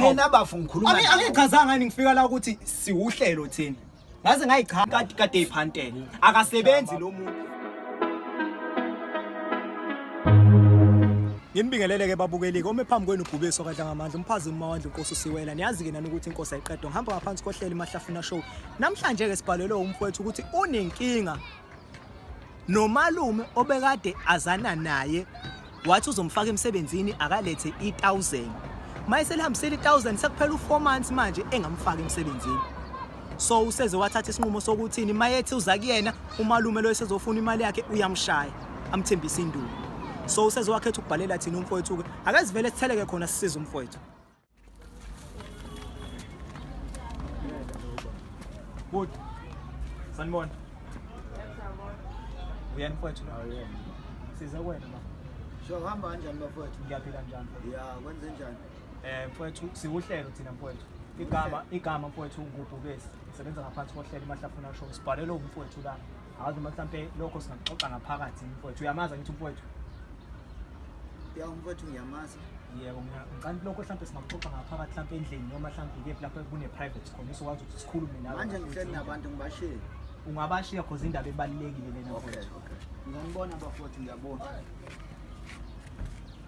Mina bafo ngikhuluma. Ami angichazanga ngani ngifika la ukuthi siwuhlelo thina. Ngaze ngayichaza kade kade iphantela. Akasebenzi lo muntu. Nginibingelele ke babukeli kome phambi kwenu Gubeso kadla ngamandla umphazi umawandla uNkosi usiwela niyazi ke nani ukuthi inkosi ayiqedwa ngihamba ngaphansi kohlelo imahlafuna show namhlanje ke sibhalelwe umfowethu ukuthi unenkinga Nomalume obekade azana naye wathi uzomfaka emsebenzini akalethe i-1000. Mayiselihambisile i-1000 sekuphela u4 months manje engamfaki emsebenzini. So useze wathatha isinqumo sokuthini mayethi uza kuyena umalume lo esezofuna imali yakhe uyamshaya amthembisa induku. So useze wakhetha ukubhalela thina umfowethu ke akazivele sitheleke khona sisiza umfowethu. Good. Sanibona. Uyani mfowethu nawe uyena. Size wena ma. Sho hamba kanjani bafowethu? Ngiyaphila njani? Ya, kwenze njani? Eh mfowethu siwuhlelo thina mfowethu. Igama igama mfowethu ngubhubesi. Sebenza ngaphansi kohlelo imahlafuna show. Sibhalelwe umfowethu la. Awazi noma mhlampe lokho singaxoxa ngaphakathi mfowethu. Uyamazi angithi mfowethu? Ya mfowethu ngiyamazi. Yebo ngicela lokho mhlampe singaxoxa ngaphakathi mhlampe endlini noma mhlampe ikephi lapho kune private khona usokwazi ukuthi sikhulume nawe. Manje ngihleli nabantu ngibashiye. Ungabashiya cause indaba ebalekile lena mfowethu. Okay okay. Ngiyabona bafowethu ngiyabona.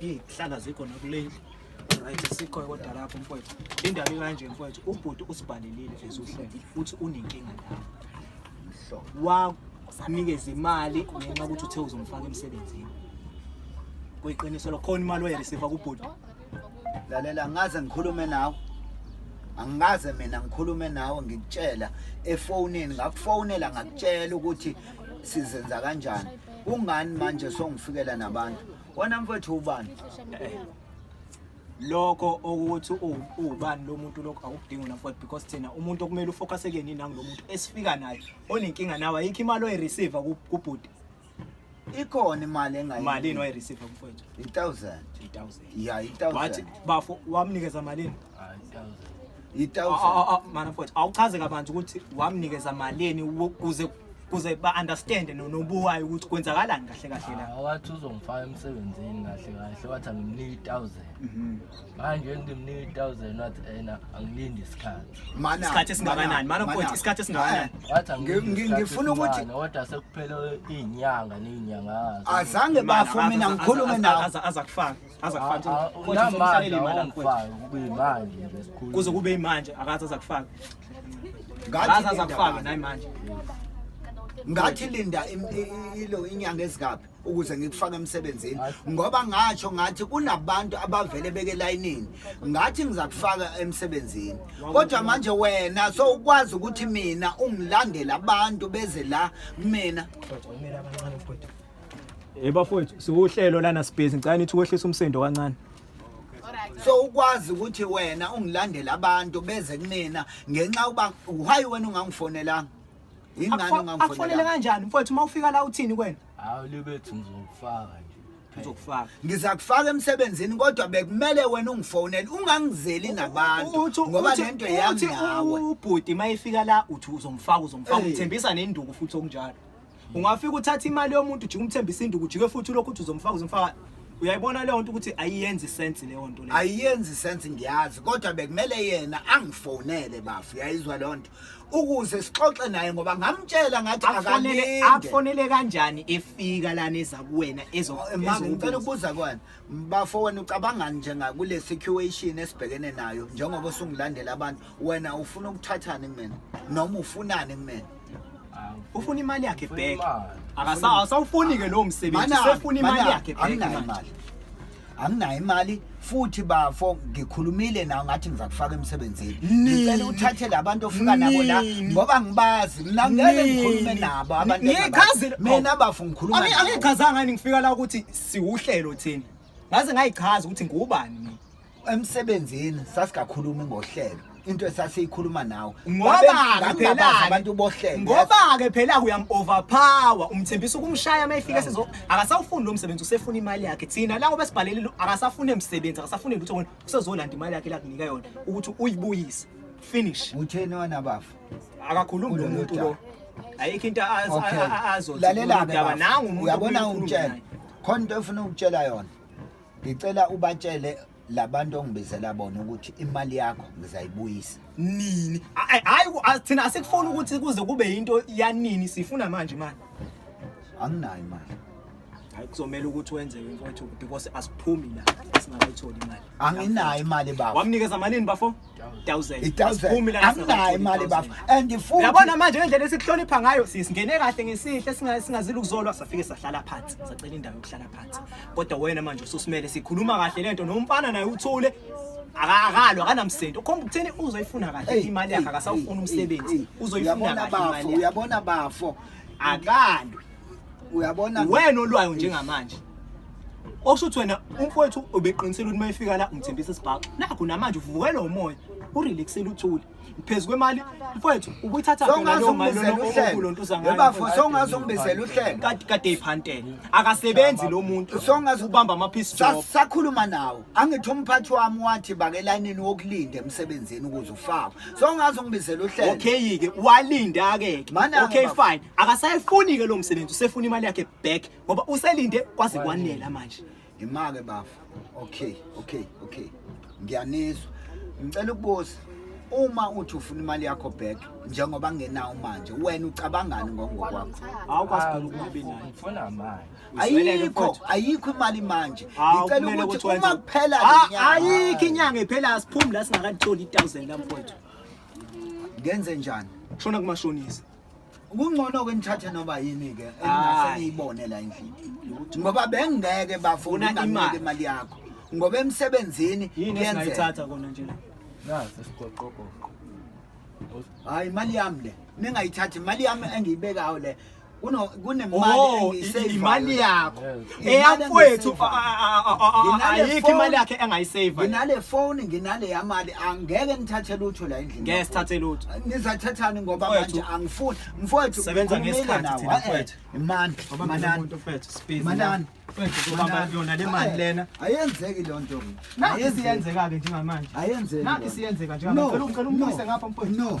Izihlala zikho nakulendlu. Right sikho kodwa lapho mfowethu. Indaba ikanje mfowethu ubhuti usibhalelile ezuhlele futhi unenkinga nawe. Mhlobo. Wanikeza imali ngenxa ukuthi uthe uzomfaka emsebenzini. Kuyiqiniso lo khona imali oyareceive kubhuti. Lalela ngaze ngikhulume nawe. angikaze mina ngikhulume nawe ngikutshela efonini ngakufonela ngakutshela ukuthi sizenza kanjani kungani manje songifikela nabantu Wena mfethu ubani? Lokho ukuthi ubani lo muntu lokho awukudingi wena mfethu because thina umuntu okumele ufocus kuyena nangu lo muntu esifika naye onenkinga nawe ayikho imali oyireceive kubhuti. Ikhona imali engayi. Malini oyireceive mfethu? 1000. 1000. Yeah, 1000. Wathi bafo wamnikeza malini? manafothi awuchaze kabanzi ukuthi wamnikeza malini kuze kuze ba-understande nobuwayo ukuthi kwenzakalani kahle kahle la ah, wathi uzongifaka emsebenzini kahle kahle wathi angimnike i-thousand mhm. manje ngimnike i-thousand wathi ena angilindi isikhathi isikhathi esingakanani manafothi isikhathi esingakanani ngifuna ukuthi kodwa sekuphele iy'nyanga ney'nyanga azange bafo mina ngikhulume nawo aza kufaka aza kufaka ah, ah, kodwa somhlalele imali angifaka kube imanje nje sikhulu kuze kube imanje akaza aza kufaka ngathi aza kufaka nayi manje ngathi linda ilo inyanga ezikaphi ukuze ngikufake emsebenzini ngoba ngatsho ngathi kunabantu abavele beke layinini ngathi ngizakufaka emsebenzini kodwa manje wena so ukwazi ukuthi mina ungilandela abantu beze la kumina Eh bafowethu siwuhlelo lana sibhizi ngicela nithi ukwehlisa umsindo kancane. so ukwazi ukuthi wena ungilandela abantu beze kunina ngenxa uba why wena ungangifonelanga yingani Akufonele ungangifonelanga kanjani mfowethu uma ufika la uthini kwena? Hawu libethu ngizokufaka nje. Ngizokufaka. ngizakufaka emsebenzini kodwa bekumele wena ungifonele ungangizeli nabantu Uthi- ngoba uthi- lento yami uthi nawe ubhuti uma efika la uthi uzomfaka uzomfaka Eh. uthembisa nenduku futhi okunjalo. ungafika uthatha imali yomuntu ujike umthembisa induku ujike futhi ulokhu uthi uzomfaka uzomfaka uyayibona leyo nto ukuthi ayiyenzi sense leyo nto leyo ayiyenzi sense ngiyazi kodwa bekumele yena angifonele bafu uyayizwa leyo nto ukuze sixoxe naye ngoba ngamtshela ngathi akanele akufonele kanjani efika lana eza kuwena ezo ngicela ukubuza kwana Bafo wena ucabangani njenga kule situation esibhekene nayo njengoba usungilandela abantu wena ufuna ukuthathani kumina noma ufunani kumina ufuna imali yakhe back akasawufuni ke lowo msebenzi sefuna imali yakhe back imali anginayo imali futhi bafo ngikhulumile nawo ngathi ngiza kufaka emsebenzini ngicela uthathe labantu ofika nabo la ngoba ngibazi mina ngeke ngikhulume nabo abantu mina bafo ngikhuluma angichazanga ngifika la ukuthi siwuhlelo thina ngaze ngayichaza ukuthi ngubani mina emsebenzini sasikakhulumi ngohlelo into esasiyikhuluma nawe ngoba phela abantu bohlelo ngoba ke phela uyam overpower umthembisa ukumshaya mayifika sizo akasawufuni lo msebenzi usefuna imali yakhe thina lawo besibhalelile akasafune emsebenzi akasafune lutho wena usezolanda imali yakhe la kunika yona ukuthi uyibuyise finish utheni wena bafu akakhulumi lo muntu lo ayikho into azolalela-ke nangu umuntu uyabona ungitshela khona into efuna ukutshela yona ngicela ubatshele labantu ongibizela bona ukuthi imali yakho ngizayibuyisa nini hayi thina asikufuni ukuthi kuze kube yinto yanini sifuna manje imali anginayo imali hayi kuzomela ukuthi wenzewe mfowethu because asiphumi la singakayitholi imali anginayo imali bafo wamnikeza malini bafo 1000 asiphumi la anginayo imali bafo and futhi yabona manje ngendlela esikuhlonipha ngayo sisingene kahle ngesihle singazile ukuzolwa safike sahlala phansi sacela indawo yokuhlala phansi kodwa wena manje ususimele sikhuluma kahle lento nomfana naye uthule akakalo akanamsebenzi ukhomba ukuthini uzoyifuna kahle imali yakhe akasawufuna umsebenzi uzoyifuna kahle imali uyabona bafo akalo uyabona wena olwayo njengamanje okusho ukuthi wena umfowethu ubeqinisele ukuthi mayefika la umthembisa isibhaxo nakho namanje uvukelwa umoya urelaxele uthule phezu kwemali mfowethu ubuyithatha phela leyo mali lokulo nto uzangayo bafo songaze ungibizele uhlelo kade kade iphantela akasebenzi lo muntu songaze ubamba ama piece job sakhuluma nawo angithi umphathi wami wathi bake layinini wokulinda emsebenzini ukuze ufakwe songaze ungibizele uhlelo okay ke walinda ke okay fine akasayifuni-ke lo msebenzi usefuna imali yakhe back ngoba uselinde kwaze kwanela manje imake bafa okay okay okay ngiyanizwa ngicela ukubuza uma uthi ufuna imali yakho back njengoba ngenawo manje wena ucabangani ngokwakho ayikho ayikho imali manje ngicela ukuthi uma kuphela ah, ayikho inyanga iphela asiphumi la singakatholi i-thousand lamfowethu ngenze njani shona kumashonisa kungcono-ke nithathe noba yini-ke engase niyibone la endlini ngoba bengingeke bafuna ungamnike imali yakho ngoba emsebenzini kuyenzeka kona nje la nazi sigoqogoqo hayi imali yami le ningayithathi imali yami engiyibekayo le kunemali oh, engiyiseyivayo imali yakho eyamfowethu ayikho imali yakhe engayisave nginale phone nginale yamali angeke nithathe lutho la endlini ngeke sithathe lutho nizathathani ngoba manje angifuni mfowethu sebenza ngesikhathi thina mfowethu imani manani mfowethu speed manani yona le mali lena ayenzeki lo nto ayenzeka ke njengamanje ayenzeki nami siyenzeka njengamanje ngicela umbuyise ngapha mfowethu no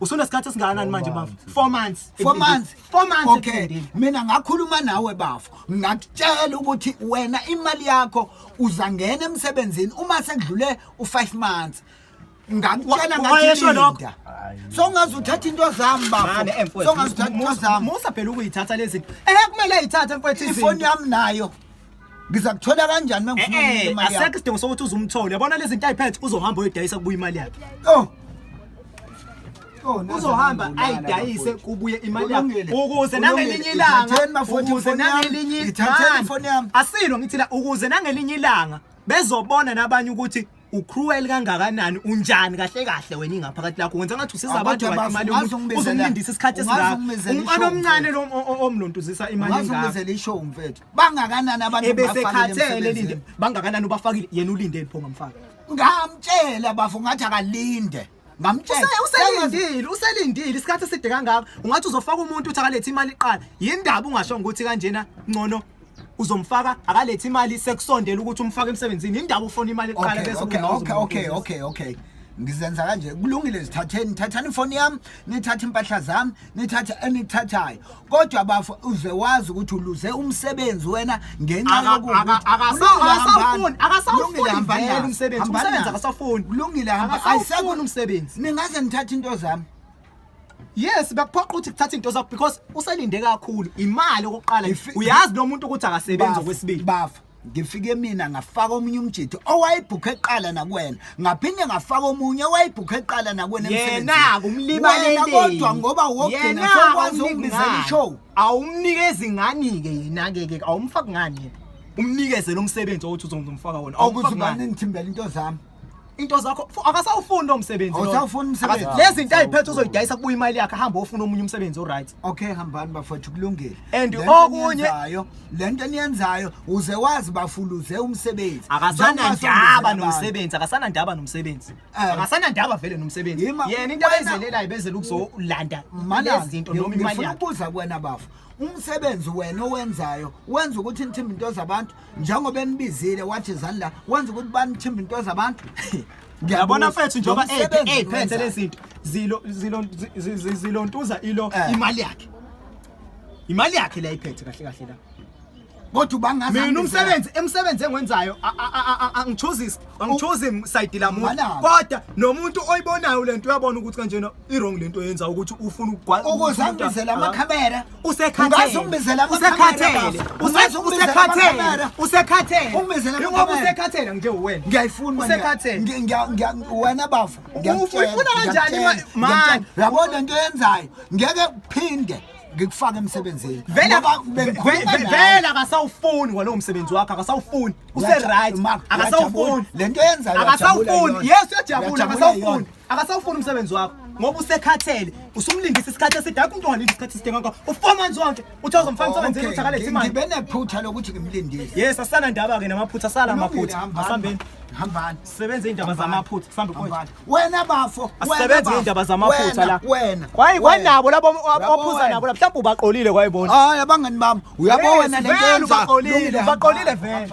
usunesikhathi esingakanani manje bafo four months four months four months okay mina ngakhuluma nawe bafo ngakutshela ukuthi wena imali yakho uzangena emsebenzini uma sekudlule u5 months ngakutshela ngayesho lokho so ngazi uthatha into zami baba so ngazi uthatha into zami musa phela ukuyithatha lezi eh kumele ayithathe mfethu ifoni yami nayo ngizakuthola kanjani uma ngifuna Eh, eh, imali asekho yakho isidingo sokuthi uze umthole yabona lezi nto ayiphethe uzohamba uyodayisa kubuya imali yakhe oh Oh, naze uzohamba nangibulala ayidayise bafowethu. kubuye imali yakhe Kulungile. ukuze Kulungile. nangelinye ilanga Ithatheni bafowethu ukuze ifoni yami. nangelinye Ithatheni Man, ifoni yami. asilo ngithila ukuze nangelinye ilanga bezobona nabanye ukuthi ucruel kangakanani unjani kahle kahle wena ingaphakathi lakho wenza ngathi usiza abantu ngathi imali yomuntu uzomlindisa isikhathi esingaka umfana omncane lo omlontuzisa imali ngathi ungazungezela ishow mfethu bangakanani abantu ebesekhathele linde bangakanani ubafakile yena ulindele pho ngamfaka ngamtshela bafo ngathi akalinde ngamtshela Use- uselindile uselindile isikhathi eside kangaka ungathi uzofaka umuntu uthi akalethe imali iqala yindaba ungashongo ukuthi kanjena ngcono uzomfaka akalethe imali sekusondela ukuthi umfake emsebenzini yindaba ufona imali iqala Okay, bese okay, ubona okay, okay, uzomnikeza. okay, okay. Ngizenza kanje. Kulungile zithatheni, thathani ifoni yami, nithathe impahla zami, nithathe enithathayo. kodwa bafo uze wazi ukuthi uluze umsebenzi wena ngenxa Aka- yokuthi aka- akasawufuni, akasawufuni, akasawufuni vele umsebenzi. Umsebenzi akasawufuni. kulungile hamba Akasawufuni ayisekho umsebenzi. ningaze nithathe into zami yes bekuphoqa ukuthi kuthatha into zakho because uselinde kakhulu imali okokuqala If- uyazi lo muntu ukuthi akasebenzi Bafo, okwesibili bafo ngifike mina ngafaka omunye umjitho owayebhukha eqala nakuwena ngaphinde ngafaka omunye owayebhukha eqala nakuwena yena kumlibalele kodwa ngoba wogcina sokwazi ukubizela ishow awumnikezi ngani ke yena ke ke awumfaki ngani umnikeze lo msebenzi othi uzomfaka wona awukuzibani ngithimbela into zami into zakho fu- akasawufuni lo msebenzi loyo. Awusawufuni umsebenzi. Akasa- lezi zinto ayiphethe uzoyidayisa kubuya imali yakhe ahambe ofuna omunye umsebenzi oright okay hambani bafowethu kulungile And Le nto okunye- eniyenzayo- le nto eniyenzayo uze wazi bafuluze umsebenzi Njengoba akasanandaba songizela abantu. nomsebenzi akasanandaba nomsebenzi Eh. akasanandaba vele nomsebenzi Yima, yena into wena- abayizelelayo bezela ukuzolanda Malanga, lezi zinto noma imali ngifuna yakhe ukubuza kuwena bafo umsebenzi wena owenzayo wenza ukuthi nithimbe into zabantu njengoba embizile wathi zalla wenza ukuthi banithimba into zabantu ngiyabona mfethu njengoba eyiphethe lezinto zilo zilo zilontuza ilo eh. imali yakhe imali yakhe la iphethe kahle kahle la kodwa ubangazi mina umsebenzi emsebenzi engwenzayo angichoose angichoose side lamuntu kodwa nomuntu oyibonayo lento uyabona ukuthi kanjena irong lento yenza ukuthi ufuna ukugwaza ukuze angibizele amakhamera usekhathele ungibizele amakhamera usekhathele usekhathele ungibizele ngoba usekhathele nje wena ngiyayifuna usekhathele ngiya wena bafo ngiyafuna kanjani manje yabona into yenzayo ngeke phinde ngikufaka emsebenzini vela vela akasawufuni walowo msebenzi wakho akasawufuni use right akasawufuni lento yenzayo akasawufuni yes uyajabula akasawufuni akasawufuni umsebenzi wakho ngoba usekhathele usumlindisa isikhathi eside akho umuntu ongalindi isikhathi eside ngakho u-four months wonke uthi awuzomfana umsebenzini uthi akalethe imali ngibe nephutha lokuthi ngimlindile yes asana ndaba-ke namaphutha asala amaphutha asambeni hambani sebenze iy'ndaba zamaphutha sambe wena bafo asebenze iy'ndaba zamaphutha la wena kwayi kwanabo labo ophuza nabo la mhlawumbe ubaqolile kwayibona hayi abangani bami uyabo wena le nto yenza baqolile vele